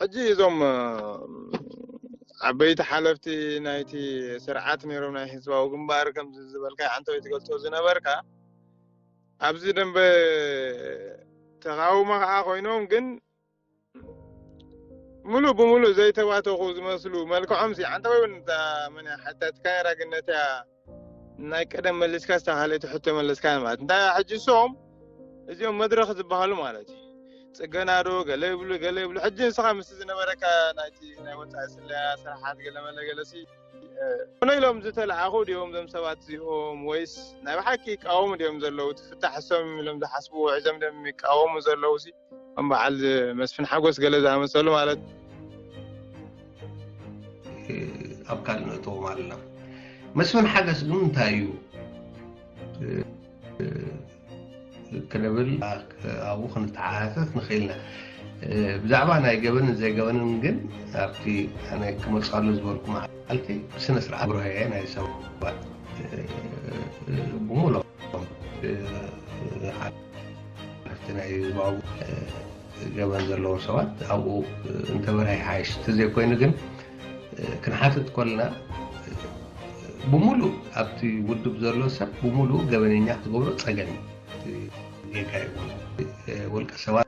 ሕጂ እዞም ዓበይቲ ሓለፍቲ ናይቲ ስርዓት ነይሮም ናይ ህዝባዊ ግንባር ከምዚ ዝበልካ ሓንቲ ወይ ትገልፆ ዝነበርካ ኣብዚ ደንበ ተቃውሞ ከዓ ኮይኖም ግን ምሉእ ብምሉእ ዘይተባተኹ ዝመስሉ መልክዖም ሲ ኣንተ ወይ እውን እታ መን ሓታትካ ነራ ግን ነታ ናይ ቀደም መሊስካ ስታ ካልእቲ ሕቶ መለስካ ማለት እንታይ ሕጂ ሶም እዚኦም መድረኽ ዝበሃሉ ማለት እዩ ፅገናዶ ገለ ይብሉ ገለ ይብሉ ሕጂ ንስኻ ምስ ዝነበረካ ናይቲ ናይ ወፃኢ ስለያ ስራሓት ገለመለ ገለሲ ኮነ ኢሎም ዝተለዓኹ ድኦም ዞም ሰባት እዚኦም ወይስ ናይ ብሓቂ ይቃወሙ ድኦም ዘለዉ ትፍታሕ ሶም ኢሎም ዝሓስብዎ ሒዞም ድኦም ይቃወሙ ዘለዉ ከም በዓል መስፍን ሓጎስ ገለ ዝኣመሰሉ ማለት ኣብ ካልእ ነእተዎም ኣለና መስፍን ሓገስ ግን እንታይ እዩ ክንብል ኣብኡ ክንተሓሳሰስ ንኽእል ኢና ብዛዕባ ናይ ገበንን ዘይገበንን ግን ኣብቲ ኣነ ክመፅኣሉ ዝበልኩ መዓልቲ ብስነ ስርዓት ብርሃየ ናይ ሰባት ብሙሉኦም ኣብቲ ናይ ህዝባዊ ገበን ዘለዉ ሰባት ኣብኡ እንተበርሀ ይሓይሽ እንተዘይኮይኑ ግን ክንሓትት ኮልና ብምሉእ ኣብቲ ውድብ ዘሎ ሰብ ብምሉእ ገበነኛ ክትገብሮ ፀገም እዩ ጌጋ እዩ ውልቀ ሰባት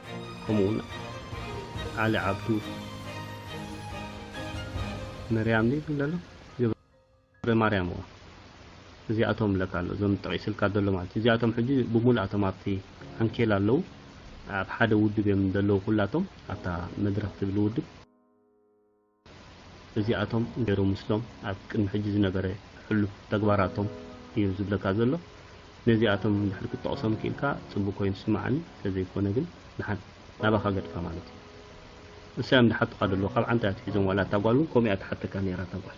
ከምኡ ውን ዓሊ ዓብዱ መርያም ድዩ ዝብል ዘሎ ገብረ ማርያም እዋ እዚኣቶም ለካ ኣሎ እዞም ጠቒስልካ ዘሎ ማለት እዚኣቶም ሕጂ ብሙሉኣቶም ኣብቲ ዓንኬል ኣለዉ ኣብ ሓደ ውድብ እዮም ዘለዉ ኩላቶም ኣብታ መድረኽ ትብል ውድብ እዚኣቶም እንጌሩ ምስሎም ኣብ ቅድሚ ሕጂ ዝነበረ ሕሉፍ ተግባራቶም እዩ ዝብለካ ዘሎ። ነዚኣቶም እንድሕር ክትጠቕሶም ክኢልካ ጽቡቕ ኮይኑ ይስምዓኒ፣ ተዘይኮነ ግን ድሓን ናባኻ ገድፋ ማለት እዩ። ንሳዮም ድሓቱኻ ደለዉ ካብ ዓንታ ኣትሒዞም ዋላ እታ ጓል ውን ከምኡ እያ ትሓተካ ኔራ እታ ጓል።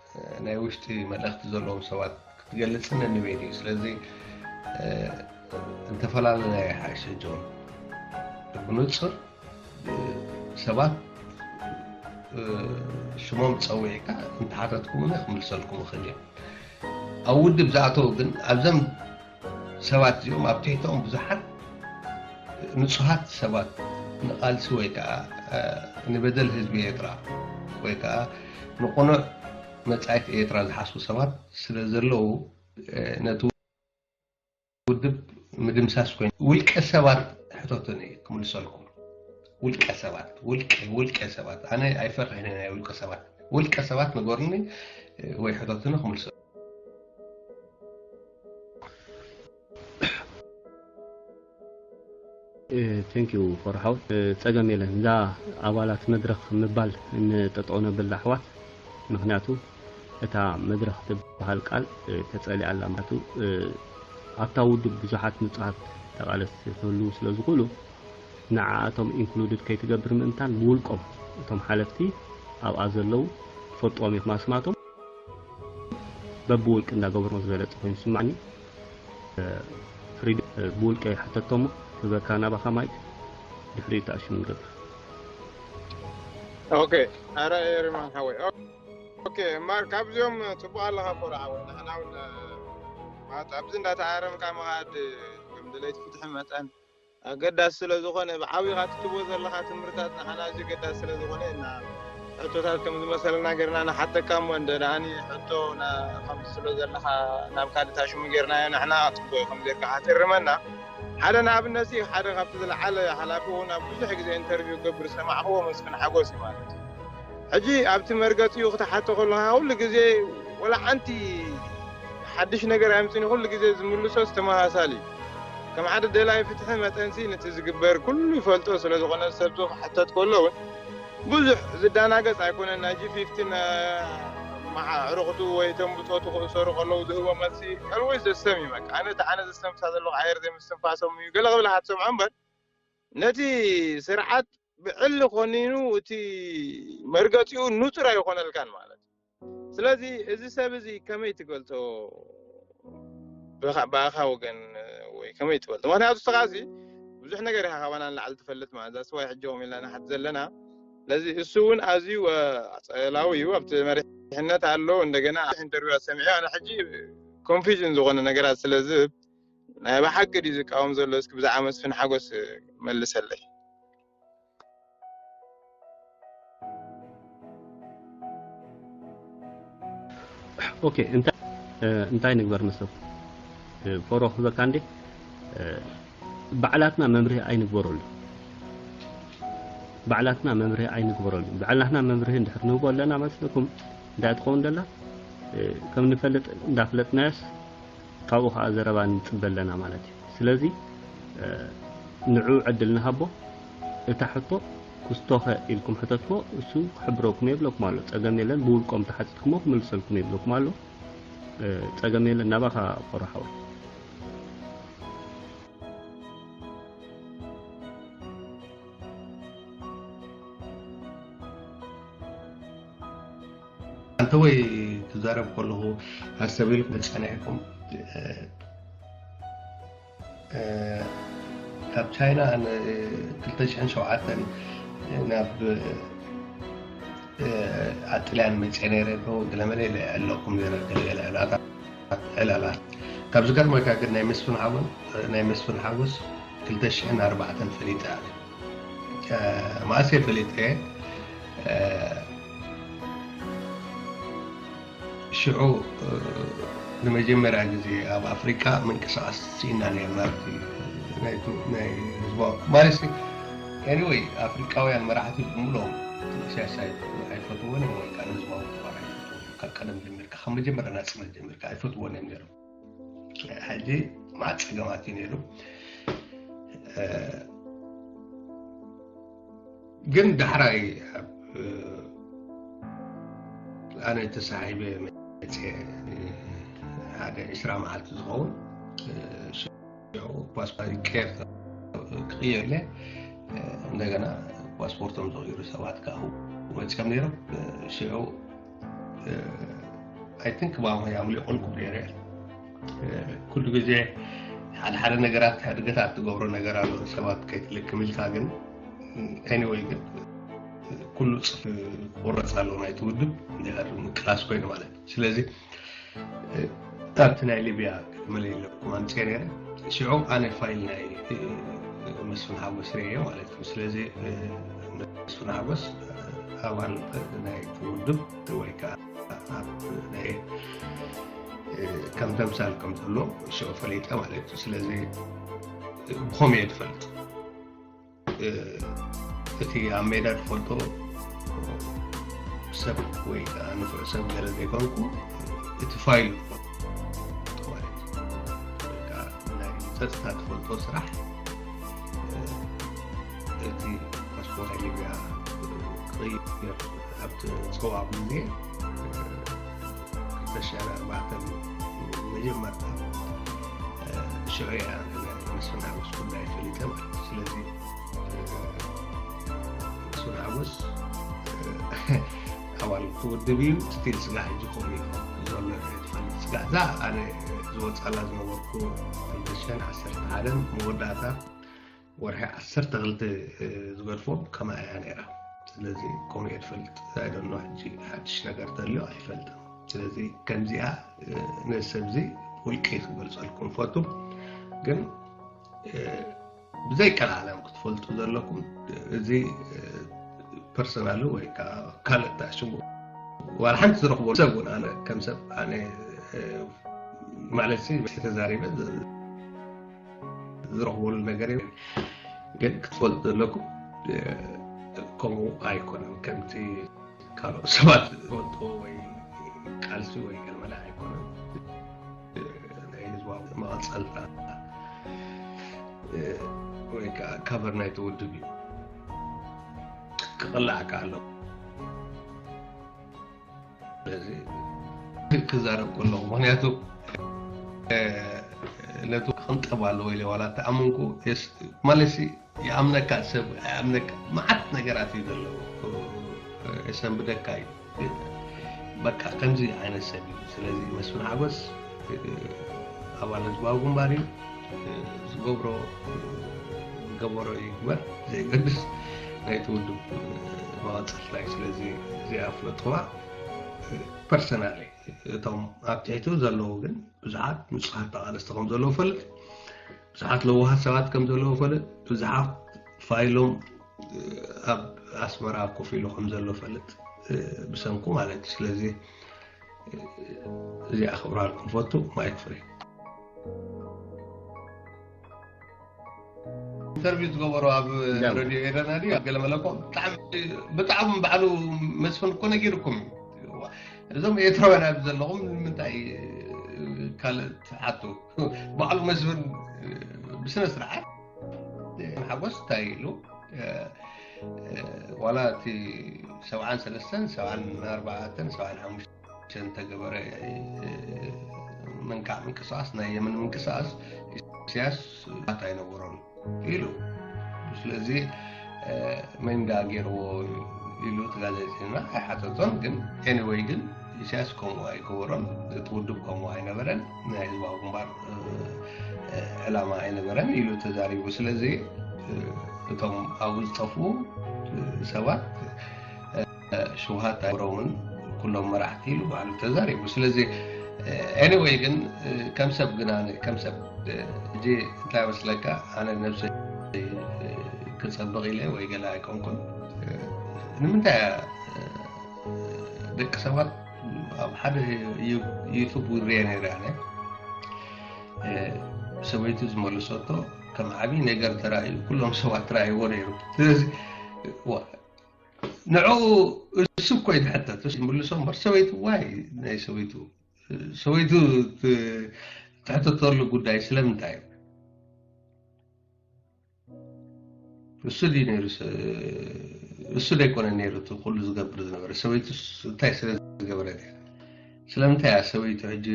ናይ ውሽጢ መልእኽቲ ዘለዎም ሰባት ክትገልጽ ነንበይ ድዩ ስለዚ እንተፈላለና ይሓሸ ጆን ብንጹር ሰባት ሽሞም ፀዊዕካ እንተሓተትኩምኒ ክምልሰልኩም እኽእል እየ ኣብ ውድብ ዝኣተው ግን ኣብዘም ሰባት እዚኦም ኣብ ትሕተኦም ብዙሓት ንጹሃት ሰባት ንቓልሲ ወይ ከዓ ንበደል ህዝቢ ኤርትራ ወይ ከዓ ንቕኑዕ መጻኢት ኤርትራ ዝሓስቡ ሰባት ስለ ዘለዉ ነቲ ውድብ ምድምሳስ ኮይኑ ውልቀ ሰባት ሕተቱኒ ክምልሰልኩም ውልቀ ሰባት ውልቀ ውልቀ ሰባት ኣነ ኣይፈርሕን ናይ ውልቀ ሰባት ውልቀ ሰባት ንገሩኒ ወይ ሕተቱኒ ክምልሰ ቴንኪዩ ፎር ሓው ፀገም የለን እዛ ኣባላት መድረኽ ምባል ንጠጠው ነብል ኣሕዋት ምክንያቱ እታ መድረኽ ትበሃል ቃል ተፀሊኣ ኣላ ምክንያቱ ኣብታ ውድብ ብዙሓት ንፁሃት ተቓለስቲ ክህልው ስለ ዝኽእሉ ንዓኣቶም ኢንክሉድድ ከይትገብር ምእንታን ብውልቆም እቶም ሓለፍቲ ኣብኣ ዘለው ትፈልጥዎም ኢኹም ኣስማቶም በብውልቂ እንዳገበርዎ ዝበለጸ ኮይኑ ዝስማዓኒ ፍሪድ ብውልቀይ ሕተቶ እሞ ህበካ ናባኻ ማይክ ድሕሪኡ ተኣሽሙ ንገብር ኦኬ ኣረ ኤሪማን ሓወይ ኦኬ ማር ካብዚኦም ፅቡቅ ኣለካ ኮረ ሓወይ ንሕና እውን ማለት ኣብዚ እንዳተኣረምካ ምኻድ ከም ድለይቲ ፍትሒ መጠን ኣገዳሲ ስለ ዝኾነ ብዓቢኻ እቲ ትብቦ ዘለኻ ትምህርታት ንዓና ኣዝዩ ኣገዳሲ ስለ ዝኾነ እና ሕቶታት ከም ዝመሰለና ጌርና ንሓተካ እሞ እንተ ደኣኒ ሕቶ ከምትስእሎ ዘለኻ ናብ ካልእ ታሽሙ ጌርናዮ ንሕና ጽቡቕ ከም ዜርካ ሓትእርመና ሓደ ንኣብነት ሲ ሓደ ካብቲ ዝለዓለ ሓላፊ ውን ኣብ ብዙሕ ግዜ ኢንተርቪው ክገብር ዝሰማዕክዎ መስፍን ሓጎስ ዩ ማለት ሕጂ ኣብቲ መርገጺኡ ክትሓቶ ከለኻ ኩሉ ግዜ ወላ ሓንቲ ሓድሽ ነገር ኣይምጽእን ኢዩ፣ ኩሉ ግዜ ዝምልሶስ ተመሳሳሊ ኢዩ። ከም ሓደ ደላይ ፍትሒ መጠንሲ ንቲ ዝግበር ኩሉ ይፈልጦ ስለ ዝኾነ ሰብዚ ክሕተት ከሎ ውን ብዙሕ ዝዳናገጽ ኣይኮነን ናይ G15 ኣዕሩኹቱ ወይ እቶም ብጾቱ ክእሰሩ ከለዉ ዝህቦ መልሲ Always the same ኢዩ በቃ ኣነ እቲ ኣነ ዘስተንፍሳ ዘለኹ ኣየር ዘይምስትንፋሶም ኢዩ ገለ ክብል ኢኻ ትሰምዖ እምበር ነቲ ስርዓት ብዕሊ ኮኒኑ እቲ መርገጺኡ ንጹር ኣይኾነልካን ማለት እዩ። ስለዚ እዚ ሰብ እዚ ከመይ ትገልጾ ብኣኻ ወገን ወይ ከመይ ትፈልጦ? ምክንያቱ እስኻሲ ብዙሕ ነገር ኢኻ ካባና ንላዕሊ ትፈልጥ ማለት እዛ ስዋይ ሕጂ ከምኡ ኢልና ንሓት ዘለና ስለዚ እሱ እውን ኣዝዩ ኣጸላዊ እዩ ኣብቲ መሪሕነት ኣሎ እንደገና ኢንተርቪዋት ሰሚዐ ኣነ ሕጂ ኮንፊዥን ዝኾነ ነገራት ስለዝህብ ናይ ብሓቂ ድዩ ዝቃወም ዘሎ እስኪ ብዛዕባ መስፍን ሓጎስ መልሰለይ ኦኬ እንታይ እንታይ ንግበር ንሰብ ፎሮ ክበካ እንዴ ባዕላትና መምርሂ ኣይንግበረሉ ባዕላትና መምርሂ ኣይንግበረሉ ባዕላትና መምርሂ እንድሕር ንህቦ ኣለና መስለኩም እንታይ ትኸውን ደላ ከም ንፈልጥ እንዳፍለጥናዮስ ካብኡ ከኣ ዘረባ ንጽበ ኣለና ማለት እዩ። ስለዚ ንዕኡ ዕድል ንሃቦ። እታ ሕቶ ኩስቶኸ ኢልኩም ሕተትዎ እሱ ክሕብረኩም የብለኩም ኣሎ። ጸገም የለን ብውልቆም ተሓቲትኩሞ ክምልሰልኩም የብለኩም ኣሎ። ጸገም የለን ናባኻ ቆሮ ሓወይ። ኣንተወይ ክዛረብ ከለኹ ሃሰብ ኢልኩም ተፀኒዕኩም ካብ ቻይና 2007 ናብ ኣጥልያን መፀ ነረ ገለመለ ኣለኩም ነረ ዕላላት ካብ ዝገርመካ ግን ናይ መስፍን ሓወን ናይ መስፍን ሓወስ 2004 ፈሊጠ ማእሴ ፈሊጠ ሽዑ ንመጀመርያ ግዜ ኣብ ኣፍሪቃ ምንቅስቃስ ስኢና ነርና ናይ ህዝባ ማለት ኤኒወይ ኣፍሪቃውያን መራሕቲ ብምሎም ኢሳያስ ኣይፈትዎን እዮም ወይ ከዓ ንህዝባዊ ግንባር ኣይፈትዎን ካብ ቀደም ጀሚርካ ካብ መጀመርያ ናፅነት ጀሚርካ ኣይፈትዎን እዮም ነይሮም ሕጂ ማዓ ፀገማት እዩ ነይሩ ግን ዳሕራይ ኣነ ተሳሒበ መፀ ሓደ ዕስራ መዓልቲ ዝኸውን ፓስፖርት ይቀየር ክቅየር ኢለ እንደገና ፓስፖርቶም ዝቕይሩ ሰባት ከዓ መፅኦም ነይሮም ሽዑ ኣይ ቲንክ ማማ ያምሊቆልኩ ነይረ ኩሉ ግዜ ሓደ ሓደ ነገራት ሕድገታት ትገብሮ ነገር ኣሎ ሰባት ከይትልክም ኢልካ ግን ኤኒወይ ግን ኩሉ ፅፍ ክቁረፅ ኣሎ ናይቲ ውድብ ምቅላስ ኮይኑ ማለት ስለዚ ኣብቲ ናይ ሊብያ መለለኩም ኣምፅኤ ነረ ሽዑ ኣነ ፋይል ናይ መስፍን ሓጎስ ርእየ ማለት እዩ ስለዚ መስፍን ሓጎስ ኣባል ናይ ውድብ ወይ ከዓ ናይ ከም ተምሳል ከም ዘሎ ሽዑ ፈሊጠ ማለት እዩ ስለዚ ብኸመይ እየ ትፈልጥ እቲ ኣብ ሜዳ ዝፈልጦ ሰብ ወይ ከዓ ንፍዕ ሰብ ገለ ዘይኮንኩ እቲ ፋይል ዝፈልጦ ማለት እዩ ወይ ከዓ ናይ ፀጥታ ትፈልጦ ስራሕ እቲ ፓስፖርት ናይ ሊብያ ክቕይር ኣብቲ ፀዋዕ ግዜ ዝተሻለ ኣርባዕተ መጀመርታ ሽዑ እያ መስፍን ሓጎስ ጉዳይ ፈሊጠ ማለት እዩ ስለዚ መስፍን ሓጎስ ኣባል ክውድብ እዩ ስቲል ስጋ ሕጂ ከምኡ እዩ ዘሎ ትፈልጥ ስጋ እዛ ኣነ ዝወፃላ ዝነበርኩ ክልተሽሕን ዓሰርተ ሓደን መወዳእታ ወርሒ ዓሰርተ ክልተ ዝገድፎ ከምኣ እያ ነይራ ስለዚ ከምኡ እየ ትፈልጥ ኣይደኖ ሕጂ ሓድሽ ነገር ተልዮ ኣይፈልጥን ስለዚ ከምዚኣ ነዚ ሰብዚ ውልቂ ክገልፀልኩም ፈቱ ግን ብዘይቀላዓለም ክትፈልጡ ዘለኩም እዚ ፐርሰናሉ ወይ ከዓ ካልእ ተኣሽሙ ዋላ ሓንቲ ዝረኽቦ ሰብ እውን ኣነ ከም ሰብ ኣነ ማለት ተዛሪበ ዝረኽበሉ ነገር እዩ ግን ክትፈልጡ ዘለኩም ከምኡ ኣይኮነን ከምቲ ካልኦት ሰባት ዝፈልጥዎ ወይ ቃልሲ ወይ ገለመለ ኣይኮነን ናይ ህዝባዊ መቐፀልታ ወይ ከዓ ካቨር ናይቲ ውድብ እዩ ክቕላዕ ከኣለዎ ክዛረብ ከለኹ ምክንያቱ ነቱ ክንጠብ ኣለዎ ኢለ ዋላ ተኣምንኩ ማለሲ ይኣምነካ ሰብ ኣይኣምነካ መዓት ነገራት እዩ ዘለዎ የሰንብደካ እዩ በቃ ከምዚ ዓይነት ሰብ እዩ ስለዚ መስፍን ሓጎስ ኣባል ህዝባዊ ግንባር እዩ ዝገብሮ ገበሮ ይግበር ዘይገድስ ናይቲ ውድብ መቐፀልታ እዩ ስለዚ እዚኣ ፍለጥዋ ፐርሰናል እቶም ኣብ ትሕቱ ዘለዉ ግን ብዙሓት ንፁሓት ተቓለስቲ ከም ዘለዉ ፈልጥ ብዙሓት ለዋሃት ሰባት ከም ዘለዉ ፈልጥ ብዙሓት ፋይሎም ኣብ ኣስመራ ኮፍ ኢሉ ከም ዘሎ ፈልጥ ብሰንኩ ማለት እዩ ስለዚ እዚኣ ክብራልኩም ፈቱ ማይክ ፍሪ ኢንተርቪው ዝገበሮ ኣብ ረድዮ ኤረና ድዩ ኣብ ገለ መለኮ ብጣዕሚ ባዕሉ መስፍን እኮ ነጊርኩም እዞም ኤርትራውያን ኣብ ዘለኹም ንምንታይ ካልእ ትሓቱ ባዕሉ መስፍን ብስነ ስርዓት ሓጎስ እንታይ ኢሉ ዋላ እቲ ሰብዓን ሰለስተን ሰብዓን ኣርባዓተን ሰብዓን ሓሙሽተን ተገበረ ምንካዕ ምንቅስቃስ ናይ የመን ምንቅስቃስ ኢሳያስ ባት ኣይነበሮን ኢሉ ስለዚ መንዳ ገይርዎ ኢሉ እቲ ጋዜጠኛ ኣይሓተቶን ግን ኤኒወይ ግን ኢሳያስ ከምኡ ኣይገበሮን እቲ ውድብ ከምኡ ኣይነበረን ናይ ህዝባዊ ግንባር ዕላማ ኣይነበረን ኢሉ ተዛሪቡ ስለዚ እቶም ኣብኡ ዝጠፍኡ ሰባት ሽውሃት ኣይሮምን ኩሎም መራሕቲ ኢሉ ባዕሉ ተዛሪቡ ስለዚ ኤኒወይ ግን ከም ሰብ ግና ከም ሰብ እዚ እንታይ መስለካ ኣነ ነብሰ ክፀብቕ ኢለ ወይ ገለ ኣይኮንኩን ንምንታይ ደቂ ሰባት ኣብ ሓደ ዩቱብ ሪአ ነይረ ኣነ ሰበይቱ ዝመለሰቶ ከም ዓብይ ነገር ተራእዩ ኩሎም ሰባት ተራእይዎ ነይሩ ስለዚ ንዕኡ እሱ እኮ እዩ ዝሕተት ምልሶ እምበር ሰበይቱ ዋይ ናይ ሰበይቱ ሰበይቱ ትሕተተሉ ጉዳይ ስለምንታይ እዩ እሱ ድዩ ነይሩ እሱ ዘይኮነ ነይሩ እቲ ኩሉ ዝገብር ዝነበረ ሰበይቱ እንታይ ስለ ዝገበረት እያ ስለምንታይ እያ ሰበይቱ ሕጂ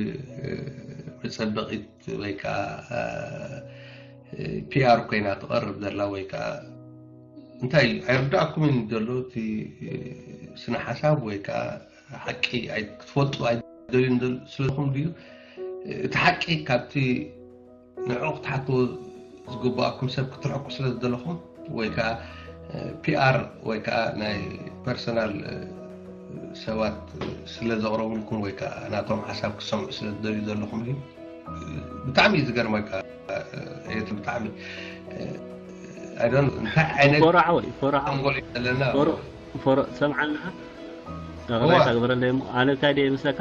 መፀበቂት ወይ ከዓ ፒኣር ኮይና ትቐርብ ዘላ ወይ ከዓ እንታይ እዩ ኣይርዳእኩምን ዘሎ እቲ ስነ ሓሳብ ወይ ከዓ ሓቂ ክትፈልጡ ኣይደልዩን ስለኹም ድዩ እቲ ሓቂ ካብቲ ንዕኡ ክትሓቱ ዝግበኣኩም ሰብ ክትርሕቁ ስለ ዝደለኹም ወይ ከዓ ፒኣር ወይ ከዓ ናይ ፐርሰናል ሰባት ስለ ዘቕረቡልኩም ወይ ከዓ ናቶም ሓሳብ ክሰምዑ ስለ ዝደልዩ ዘለኹም እዩ ብጣዕሚ እዩ ዝገርመካ ኤት ብጣዕሚ እንታይ ዓይነት ፎራዕ ወይ ፎራዕ ኣንጎል እዩ ዘለና ፎሮ ሰምዓና ረዳይታ ግበረለይ እሞ ኣነ እንታይ ደየ ምስለካ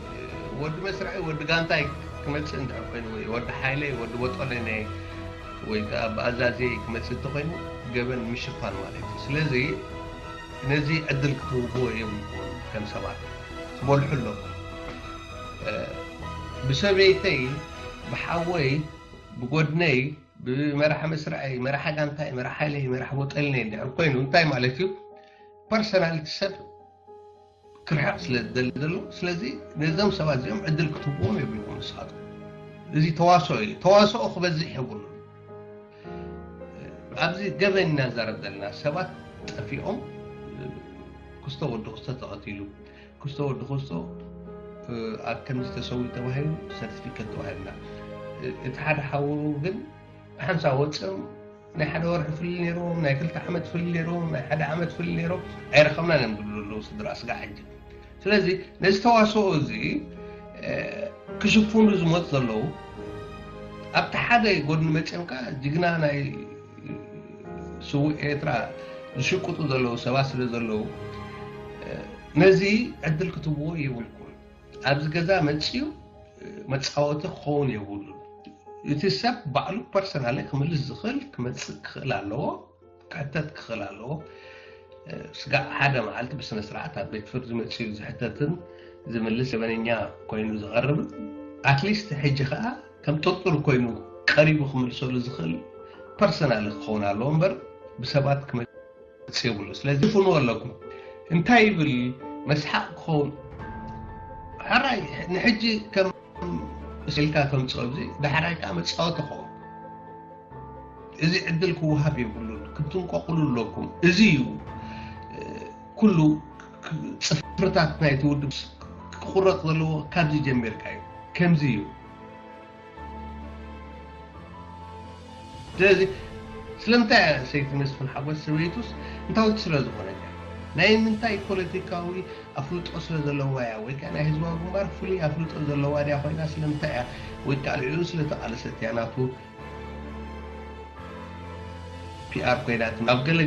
ወዲ መስርዕይ ወዲ ጋንታይ ክመጽእ እንድሕር ኮይኑ ወይ ወዲ ሓይለይ ወዲ ቦጦሎነይ ወይ ከኣ ብኣዛዝየይ ክመጽእ እንተኾይኑ ገበን ምሽፋን ማለት እዩ ስለዚ ነዚ ዕድል ክትህብዎ የብልኩምን ከም ሰባት ትበልሑ ኣለኹም ብሰበይተይ ብሓወይ ብጎድነይ ብመራሒ መስርዐይ መራሒ ጋንታይ መራሒ ሓይለይ መራሒ ቦጠልነይ እንድሕር ኮይኑ እንታይ ማለት እዩ ፐርሰናልቲ ሰብ ክርሕቕ ስለ ዝደሊ ዘሎ ስለዚ ነዞም ሰባት እዚኦም ዕድል ክትህብዎም የብልኩም ንስኻትኩም እዚ ተዋስኦ እዩ ተዋስኦ ክበዝሕ የብሉ ኣብዚ ገበን ኢና ንዛረብ ዘለና ሰባት ጠፊኦም ክስቶ ወዲ ክስቶ ተቐቲሉ ክስቶ ወዲ ክስቶ ኣብ ከምዚ ተሰዊኡ ተባሂሉ ሰርቲፊኬት ተዋሂብና እቲ ሓደ ሓውሩ ግን ብሓንሳ ወፅም ናይ ሓደ ወርሒ ፍልል ነይርዎም ናይ ክልተ ዓመት ፍልል ነይርዎም ናይ ሓደ ዓመት ፍልል ነይሮም ኣይረኸብናን እዮም ዝብሉ ዘለዉ ስድራ ስጋዕ ሕጂ ስለዚ ነዚ ተዋስኦ እዚ ክሽፍኑ ዝመፁ ዘለዉ ኣብቲ ሓደ ጎድኒ መፅኦም ከዓ ጅግና ናይ ስውእ ኤርትራ ዝሽቅጡ ዘለዉ ሰባት ስለ ዘለዉ ነዚ ዕድል ክትብዎ የብልኩም ኣብዚ ገዛ መፅዩ መፃወቲ ክኸውን የብሉን። እቲ ሰብ ባዕሉ ፐርሰናሊ ክምልስ ዝኽእል ክመፅእ ክኽእል ኣለዎ፣ ክሕተት ክኽእል ኣለዎ። ስጋዕ ሓደ መዓልቲ ብስነ ስርዓት ኣብ ቤት ፍርዲ መፅዩ ዝሕተትን ዝምልስ ገበነኛ ኮይኑ ዝቐርብን ኣትሊስት ሕጂ ከዓ ከም ጥርጡር ኮይኑ ቀሪቡ ክምልሰሉ ዝኽእል ፐርሰናሊ ክኸውን ኣለዎ እምበር ብሰባት ርግጽ የብሉ ስለዚ ፍንዎ ኣለኩም እንታይ ይብል መስሓቅ ክኸውን ሕራይ ንሕጂ ከም ስልካ ተምፅኦ እዚ ዳሕራይ ከዓ መፃወቲ ክኸውን እዚ ዕድል ክወሃብ የብሉን ክትንቆቕሉ ኣለኩም እዚ እዩ ኩሉ ፅፍርታት ናይቲ ውድብ ክቁረፅ ዘለዎ ካብዚ ጀሚርካ እዩ ከምዚ እዩ ስለዚ ስለምንታይ እያ ሰይቲ መስፍን ሓጎስ ሰበይቱስ እንታዊት ስለ ዝኾነት እያ? ናይ ምንታይ ፖለቲካዊ ኣፍልጦ ስለ ዘለዋ እያ? ወይ ከኣ ናይ ህዝባዊ ግንባር ፍሉይ ኣፍልጦ ዘለዋ ድያ ኮይና ስለምንታይ እያ? ወይ ከኣ ልዕሊኡ ስለ ተቓለሰት እያ ናቱ ፒኣር ኮይና ትመጽእ? ኣብ ገለ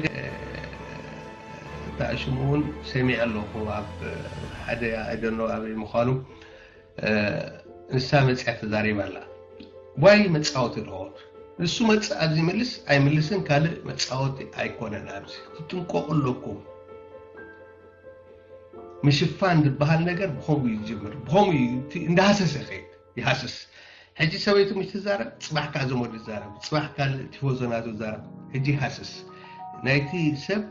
ተኣሽሙ እውን ሰሚዐ ኣለኹ ኣብ ሓደ ኣይ ዶንት ኖው ኣበይ ምዃኑ ንሳ መፅያ ተዛሪባ ኣላ ዋይ መፃወቲ ዶ ንሱ መፅእ ኣብዚ ይምልስ ኣይምልስን ካልእ መፃወቲ ኣይኮነን ኣብዚ ክትጥንቀቑ ኣለኩም ምሽፋን ዝበሃል ነገር ብኸምኡ እዩ ዝጅምር ብኸምኡ እዩ እንዳሃሰሰ ከይድ ይሃስስ ሕጂ ሰበይቱ ምሽ ትዛረብ ፅባሕ ከዓ ዘመዱ ይዛረብ ፅባሕ ካልእ ቲፎዞናቱ ይዛረብ ሕጂ ይሃስስ ናይቲ ሰብ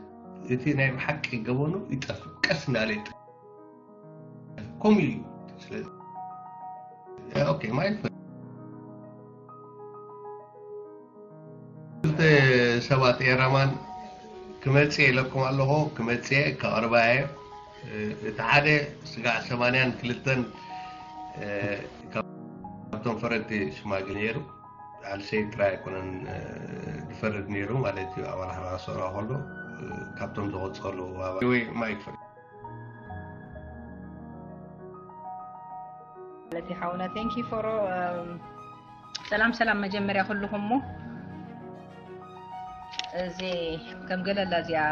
እቲ ናይ ብሓቂ ገበኑ ይጠፍእ ቀስ እንዳለ ከምኡ እዩ ስለዚ ኦኬ ማይክ ክልተ ሰባት ኤራማን ክመፅእ ኢለኩም ኣለኹ ክመፅእ ከቕርባ እየ እቲ ሓደ ስጋዕ ሰማንያን ክልተን ካብቶም ፈረድቲ ሽማግ ነይሩ ኣልሰይ ጥራይ ኣይኮነን ዝፈርድ ነይሩ ማለት እዩ ኣባል ሓራ ሰራ ከሎ ካብቶም ዝቆፀሉ ወይ ማይክ ፈርድ ማለት ሓውና ቴንኪ ፎሮ ሰላም ሰላም መጀመርያ ኩልኹም ሞ እዚ ከም ገለላ እዚኣ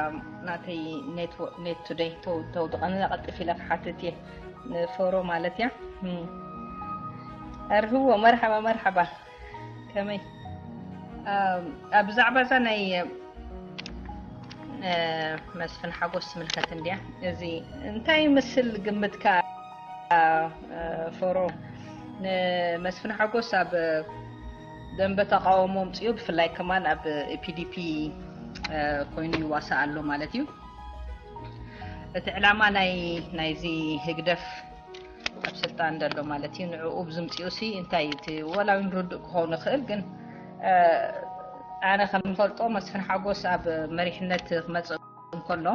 ናተይ ኔት ቱደይ ተውድቐኒ ቀልጥፍ ኢለ ክሓትት እየ ንፎሮ ማለት እያ እርህዎ መርሓባ መርሓባ ከመይ ኣብ ብዛዕባ እዛ ናይ መስፍን ሓጎስ ትምልከት እንድያ እዚ እንታይ ምስል ግምትካ ፎሮ ንመስፍን ሓጎስ ኣብ ደንበ ተቃውሞ ምፅኡ ብፍላይ ከማን ኣብ ፒዲፒ ኮይኑ ይዋሳእ ኣሎ ማለት እዩ እቲ ዕላማ ናይ ናይዚ ህግደፍ ኣብ ስልጣን ዘሎ ማለት እዩ ንዕኡ ዝምፅኡ ሲ እንታይ እዩ እቲ ወላ እውን ርዱእ ክኸውን ይኽእል ግን ኣነ ከምፈልጦ መስፍን ሓጎስ ኣብ መሪሕነት ክመፅእ እንከሎ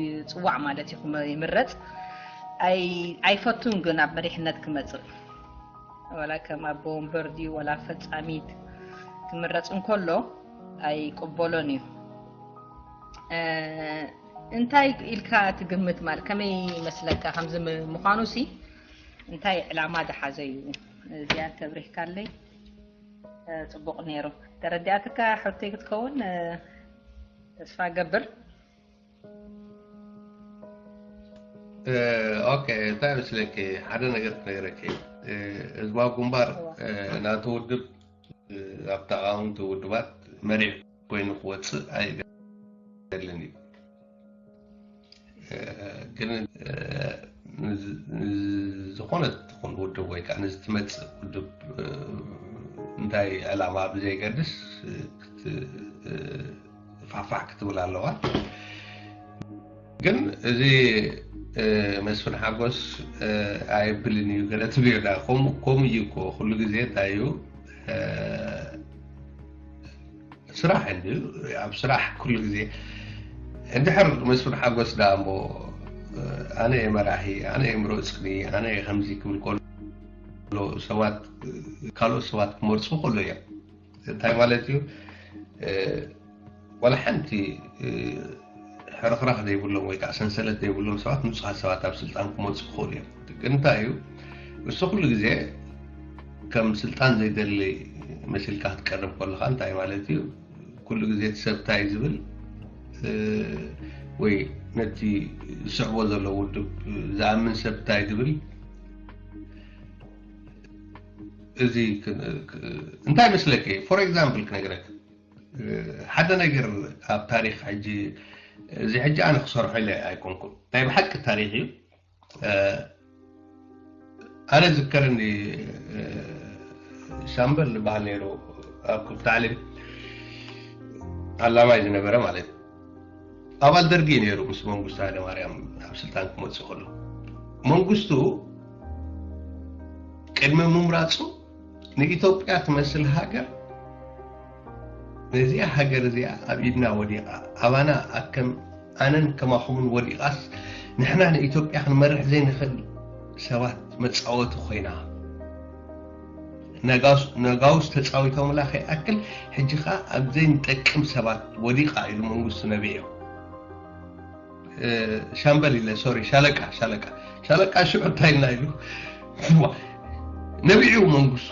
ይፅዋዕ ማለት እዩ ይምረፅ ኣይፈቱን ግን ኣብ መሪሕነት ክመፅእ ወላ ከም ኣቦ ወንበር ድዩ ወላ ፈፃሚት ክምረፅ እንከሎ ኣይቅበሎን እዩ እንታይ ኢልካ ትግምት ማለት ከመይ ይመስለካ ከምዚ ምዃኑ ሲ እንታይ ዕላማ ዝሓዘ እዩ እዚኣ ተብሪህካለይ ፅቡቅ ነይሩ ተረዲኣትካ ሕቶይ ክትከውን ተስፋ ገብር ኦኬ እንታይ መስለኪ ሓደ ነገር ክነግረኪ ህዝባዊ ግንባር ናቲ ውድብ ኣብ ተቃወምቲ ውድባት መሪሑ ኮይኑ ክወፅእ ኣይደልን እዩ ግን ዝኾነ ትኹን ውድብ ወይ ከዓ ንዝትመፅእ ውድብ እንታይ ዕላማ ብዘይገድስ ፋፋሕ ክትብል ኣለዋ ግን እዚ መስፍን ሓጎስ ኣይብልን እዩ ገለ ትብዮዳ ከምኡ እዩ እኮ ኩሉ ግዜ እንታይ እዩ ስራሕ እንድዩ ኣብ ስራሕ ኩሉ ግዜ እንድሕር መስፍን ሓጎስ ዳ እሞ ኣነ እየ መራሒ ኣነ እየ ምረፅኒ ኣነ እየ ከምዚ ክብል ከሎ ሰባት ካልኦት ሰባት ክመርፁ ከሎ እያ እንታይ ማለት እዩ ዋላ ሓንቲ ሕርኽራኽ ዘይብሎም ወይ ከኣ ሰንሰለት ዘይብሎም ሰባት ንጹሃት ሰባት ኣብ ስልጣን ክመጹ ይኽእሉ እዮም። እቲ ግን እንታይ እዩ እሱ ኩሉ ግዜ ከም ስልጣን ዘይደሊ መሲልካ ክትቀርብ ከለኻ እንታይ ማለት እዩ ኩሉ ግዜ እቲ ሰብ እንታይ ዝብል ወይ ነቲ ዝስዕቦ ዘሎ ውድብ ዝኣምን ሰብ እንታይ ዝብል እዚ እንታይ መስለኪ ፎር ኤግዛምፕል ክነግረክ ሓደ ነገር ኣብ ታሪክ ሕጂ እዚ ሕጂ ኣነ ክሰርሖ ኢለ ኣይኮንኩን ናይ ብሓቂ ታሪክ እዩ ኣነ ዝከረኒ ሻምበል ዝበሃል ነይሩ ኣብ ክብ ታዕሊም ኣላማይ ዝነበረ ማለት ኣባል ደርጊ ነይሩ ምስ መንግስቱ ሃይለማርያም ኣብ ስልጣን ክመፅእ ከሎ መንግስቱ ቅድሚ ምምራፁ ንኢትዮጵያ ትመስል ሃገር ነዚኣ ሃገር እዚኣ ኣብ ኢድና ወዲቓ ኣባና ኣከም ኣነን ከማኹምን ወዲቓስ ንሕና ንኢትዮጵያ ክንመርሕ ዘይንኽእል ሰባት መፃወቲ ኮይና ነጋውስ ተፃዊቶምላ ከይኣክል ሕጂ ከዓ ኣብ ዘይንጠቅም ሰባት ወዲቓ ኢሉ መንግስቱ ነቢዕም ሻምበል ኢለ ሶሪ ሻለቃ ሻለቃ ሻለቃ ሽዑ እንታይ ኢልና ኢሉ ነቢዑ መንግስቱ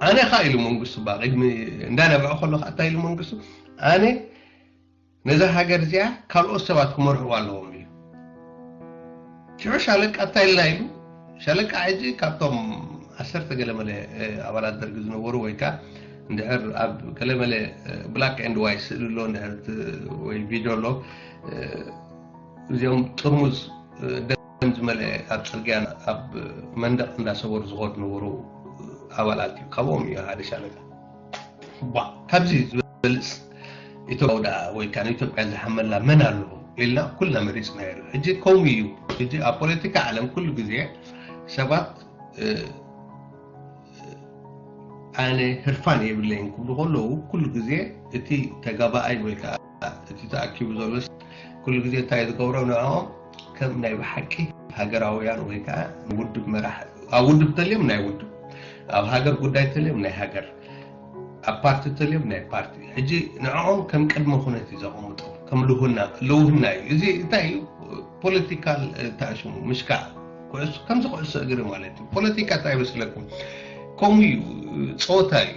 ኣነ ካ ኢሉ መንግስቱ ባ ቅድሚ እንዳነብዐ ከሎ ከዓ እንታይ ኢሉ መንግስቱ ኣነ ነዛ ሃገር እዚኣ ካልኦት ሰባት ክመርሕዋ ኣለዎም ሽዑ ሻለቃ ታይላይ ኢሉ ሻለቃ ሕጂ ካብቶም ዓሰርተ ገለመለ ኣባላት ደርጊ ዝነበሩ ወይ ከ እንድሕር ኣብ ገለመለ ብላክ ኤንድ ዋይ ስእሊ ኣሎ እንድሕር ወይ ቪድዮ ኣሎ እዚኦም ጥርሙዝ ደም ዝመልአ ኣብ ፅርግያ ኣብ መንደቕ እንዳሰበሩ ዝኸዱ ነበሩ ኣባላት እዩ ካብኦም እዩ ሓደ ሻለቃ ካብዚ ዝበልፅ ኢትዮጵያዊ ደኣ ወይ ከዓ ንኢትዮጵያ ዝሓመላ መን ኣሎ ኢልና ኩልና መሪፅና ኢሉ ሕጂ ከምኡ እዩ ሕጂ ኣብ ፖለቲካ ዓለም ኩሉ ግዜ ሰባት ኣነ ህርፋን የብለይን ክብሉ ከለዉ ኩሉ ግዜ እቲ ተጋባኣይ ወይ ከዓ እቲ ተኣኪቡ ዘሎ ኩሉ ግዜ እንታይ ዝገብሮ ንዕኦም ከም ናይ ብሓቂ ሃገራውያን ወይ ከዓ ውድብ መራሕ ኣብ ውድብ ተልዮም ናይ ውድብ ኣብ ሃገር ጉዳይ ተልዮም ናይ ሃገር ኣብ ፓርቲ ተልዮም ናይ ፓርቲ ሕጂ ንዕኦም ከም ቅድመ ኩነት እዩ ዘቐምጦ ከም ልውና ልውህና እዩ እዚ እንታይ እዩ ፖለቲካል ተኣሽሙ ምሽካዕ ኩዕሶ ከምዚ ኩዕሶ እግሪ ማለት እዩ ፖለቲካ እንታይ መስለኩም ከምኡ እዩ ፀወታ እዩ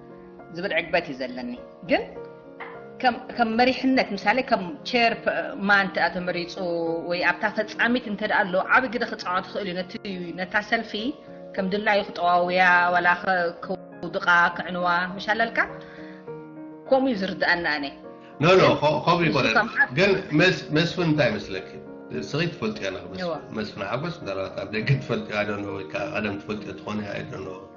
ዝብል ዕግበት እዩ ዘለኒ ግን ከም መሪሕነት ምሳሌ ከም ቸር ማን ተኣ ተመሪፁ ወይ ኣብታ ፈፃሚት እንተ ኣሎ ዓብ ግደ ክፃወት ይኽእል እዩ ነቲ ነታ ሰልፊ ከም ድላዩ ክጠዋውያ ዋላ ክውድቓ ክዕንዋ ምሻለልካ ከምኡ እዩ ዝርድኣና ኣነ ኖኖ ከምኡ ይኮነ ግን መስፍን እንታይ ይመስለኪ ስኺ ትፈልጥዮ መስፍን ሓጎስ ምናልባት ኣብ ደገ ትፈልጥዮ ኣደኖ ወይ ቀደም ትፈልጥዮ ትኾነ ኣደኖ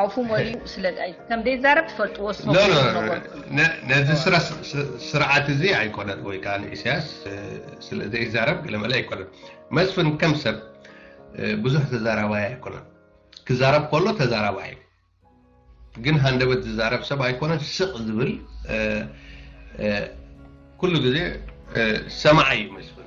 ኣፉ መሊኡ ስለ ከም ዘይዛረብ ትፈልጥዎ ነዚ ስራ ስርዓት እዚ ኣይኮነን ወይ ከዓ ንኢሳያስ ስለ ዘይዛረብ ገለመለ ኣይኮነን መስፍን ከም ሰብ ብዙሕ ተዛራባይ ኣይኮነን ክዛረብ ከሎ ተዛራባይ እዩ ግን ሃንደበት ዝዛረብ ሰብ ኣይኮነን ስቕ ዝብል ኩሉ ግዜ ሰማዓይ እዩ መስፍን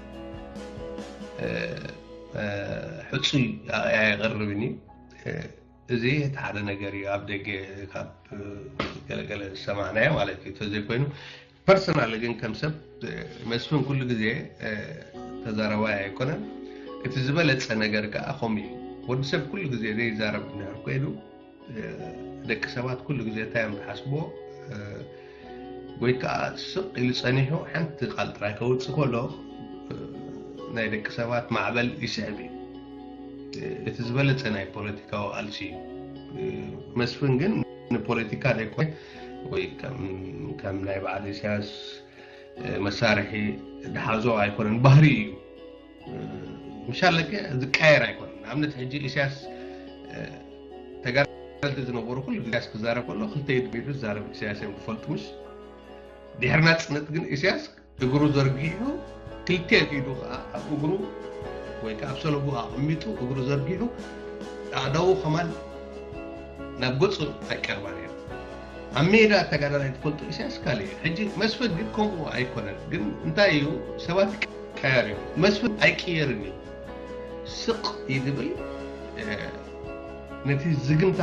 ሕፁይ ኣያ የቕርብኒ እዚ እቲ ሓደ ነገር እዩ ኣብ ደገ ካብ ገለገለ ዝሰማዕናዮ ማለት እዩ ተዘይኮይኑ ፐርሰናል ግን ከም ሰብ መስፍን ኩሉ ግዜ ተዛረባይ ኣይኮነን እቲ ዝበለፀ ነገር ከዓ ከምኡ እዩ ወዲ ሰብ ኩሉ ግዜ ዘይዛረብ እንድሕር ኮይኑ ደቂ ሰባት ኩሉ ግዜ እንታይ እዮም ዝሓስብዎ ወይ ከዓ ስቕ ኢሉ ፀኒሑ ሓንቲ ቃል ጥራይ ከውፅእ ከሎ ናይ ደቂ ሰባት ማዕበል ይስዕብ እዩ እቲ ዝበለፀ ናይ ፖለቲካዊ ቃልሲ እዩ መስፍን ግን ንፖለቲካ ዘይኮነ ወይ ከም ናይ በዓል ኢሳያስ መሳርሒ ዝሓዞ ኣይኮነን ባህሪ እዩ ምሻለ ገ ዝቃየር ኣይኮነ ንኣብነት ሕጂ ኢሳያስ ተጋልቲ ዝነበሩ ኩሉ ኢሳያስ ክዛረብ ከሎ ክልተ ኢድ ቢዱ ዝዛረብ ኢሳያስ እዮም ዝፈልጡ ምሽ ድሕሪ ናፅነት ግን ኢሳያስ እግሩ ዘርጊሑ ክልቴን ኢዱ ከዓ ኣብ እግሩ ወይ ከዓ ኣብ ሰለቡ ኣቐሚጡ እግሩ ዘርጊሑ ኣእዳዉ ከማን ናብ ገፁ ኣይቀርባን እዮም ኣብ ሜዳ ተጋዳላይ ትፈልጦ ኢሳያስ ካልእ እዩ ሕጂ መስፍን ግን ከምኡ ኣይኮነን ግን እንታይ እዩ ሰባት ቀያር እዩ መስፍን ኣይቅየርን እዩ ስቅ ይድብል ነቲ ዝግምታ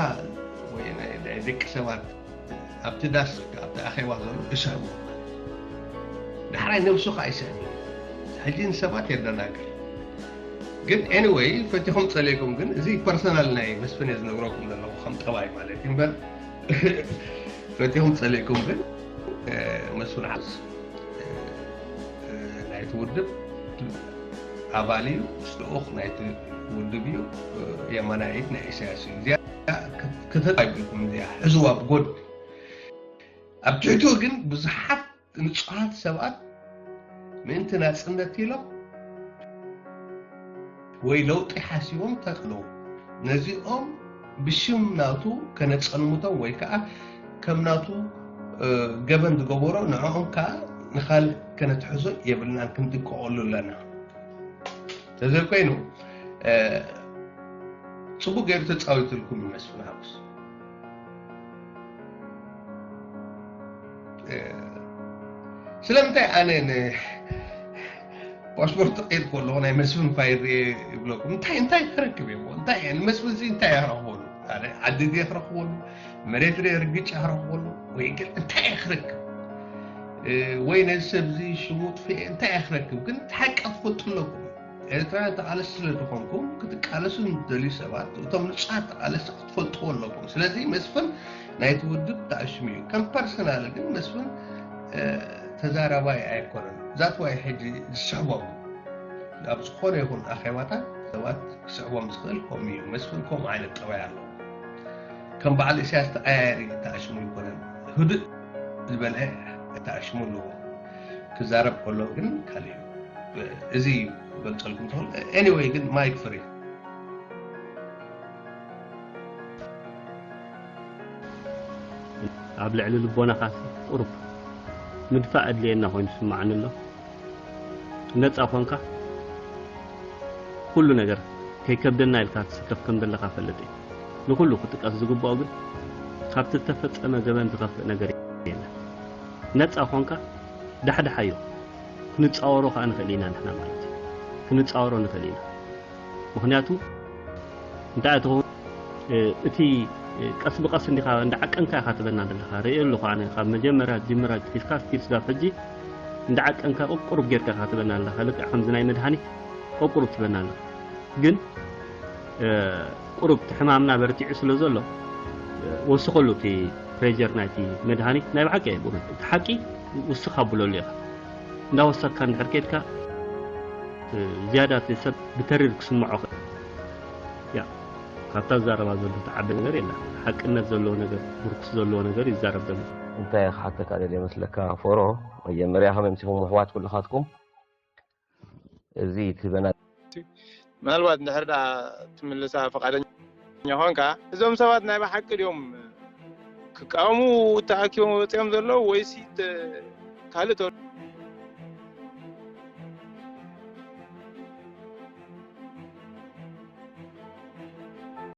ወይ ናይ ደቂ ሰባት ኣብቲ ዳስ ኣብቲ ኣኼባ ዘሎ እሰሩ ዳሕራይ ነብሱ ከዓ ይስዕብ ሕጂ ንሰባት የደናግር ግን ኤኒወይ ፈቲኹም ፀሊእኩም ግን እዚ ፐርሰናል ናይ መስፍን እየ ዝነግረኩም ዘለኹ ከም ጠባይ ማለት እዩ እምበር ፈትኹም ፀሊእኩም ግን መስፍን ዓስ ናይቲ ውድብ ኣባል እዩ ልኡኽ ናይቲ ውድብ እዩ የማና ኢድ ናይ ኢሳያስ እዩ እዚኣ ክተጣይብልኩም እዚኣ ሕዝዋ ብጎድ ኣብ ትሕቶ ግን ብዙሓት ንጹሃት ሰባት ምእንቲ ናጽነት ኢሎም ወይ ለውጢ ሓሲቦም ተቅልዉ ነዚኦም ብሽም ናቱ ከነጸልምቶም ወይ ከኣ ከም ናቱ ገበን ዝገበሮ ንዕኦም ከኣ ንኻልእ ከነትሕዞ የብልናን ክንጥቀቐሉ ኣለና ተዘይኮይኑ ጽቡቅ ገይሩ ተጻዊትልኩም ይመስል ሓጎስ ስለምንታይ ኣነ ፓስፖርት ቀይር ከለኹ ናይ መስፍን ፋይል ርኤ ይብለኩም እንታይ እንታይ ክረክብ እየ እንታይ ንመስፍን እዚ እንታይ ክረኽበሉ ዓዲ ድየ ክረኽበሉ መሬት ርኤ ርግጫ ክረኽበሉ ወይ ግን እንታይ እየ ክረክብ ወይ ነዚ ሰብ እዚ ሽሙ ጥፍኤ እንታይ እየ ክረክብ ግን ሓቂ ክፈልጡ ኣለኩም ኤርትራውያን ተቓለስቲ ስለ ዝኾንኩም ክትቃለሱ ንደልዩ ሰባት እቶም ንጹሃት ተቓለስቲ ክትፈልጥዎ ኣለኩም ስለዚ መስፍን ናይቲ ውድብ ተኣሽሙ እዩ ከም ፐርሰናል ግን መስፍን ተዛራባይ ኣይኮነን ዛት ዋይ ሕጂ ዝስዕቦም ኣብ ዝኾነ ይኹን ኣኼባታት ሰባት ክስዕቦም ዝኽእል ከምኡ እዩ መስፍን ከምኡ ዓይነት ጠባይ ኣሎ ከም በዓል እስያስ ተቐያየሪ ተኣሽሙ ኣይኮነን ህዱእ ዝበለ ተኣሽሙ ኣለዎ ክዛረብ ከሎ ግን ካልእ እዩ እዚ እዩ ክገልፀልኩም ትኽእል ኤኒወይ ግን ማይክ ፍሪ ኣብ ልዕሊ ልቦናኻሲ ቁሩብ ምድፋእ ኣድልየና ኮይኑ ስምዓኒ ኣሎ ነፃ ኮንካ ኩሉ ነገር ከይከብደና ኢልካ ትስከፍ ከም ዘለኻ ፈልጥ እዩ ንኩሉ ክጥቀስ ዝግብኦ ግን ካብቲ ዝተፈፀመ ገበን ዝኸፍእ ነገር የለን ነፃ ኮንካ ዳሕዳሓዮ ክንጻወሮ ከኣ ንኽእል ኢና ንሕና ማለት እዩ ክንጻወሮ ንኽእል ኢና ምኽንያቱ እንታይ ትኸውን እቲ ቀስ ብቀስ እንዲኻ እንዳዓቀንካ ኢኻ ትበና ዘለኻ ርእዮ ኣለኹ ኣነ ካብ መጀመርያ ጅምራ ጅቲፍካ ስቲል ስጋብ ሕጂ እንዳዓቀንካ ቁቁሩብ ጌርካ ኢኻ ትበና ዘለኻ ልክዕ ከምዚ ናይ መድሃኒት ቁቁሩብ ትበና ኣለኻ ግን ቁሩብ እቲ ሕማምና በርቲዑ ስለ ዘሎ ወስኸሉ እቲ ፕሬዠር ናይቲ መድሃኒት ናይ ብሓቂ እየ ብእውነት እቲ ሓቂ ውስኽ ኣብለሉ ኢኻ እንዳወሰኽካ እንድሕር ኬድካ ዝያዳ እቲ ሰብ ብተሪር ክስምዖ ክእል ያ ካብታ ዝዛረባ ዘሎ ትዓቢ ነገር የላ ሓቅነት ዘለዎ ነገር ምርኩስ ዘለዎ ነገር ይዛረብ ዘሎ እንታይ ክሓተካ ደልየ መስለካ ፎሮ መጀመርያ ከመይ ምሲኹም ኣሕዋት ኩልኻትኩም። እዚ ትህበና ምናልባት እንድሕር ደኣ ትምልሳ ፈቃደኛ ኮንካ እዞም ሰባት ናይ ብሓቂ ድዮም ክቃወሙ ተኣኪቦም ወፂኦም ዘለዉ ወይሲ ካልእ ተ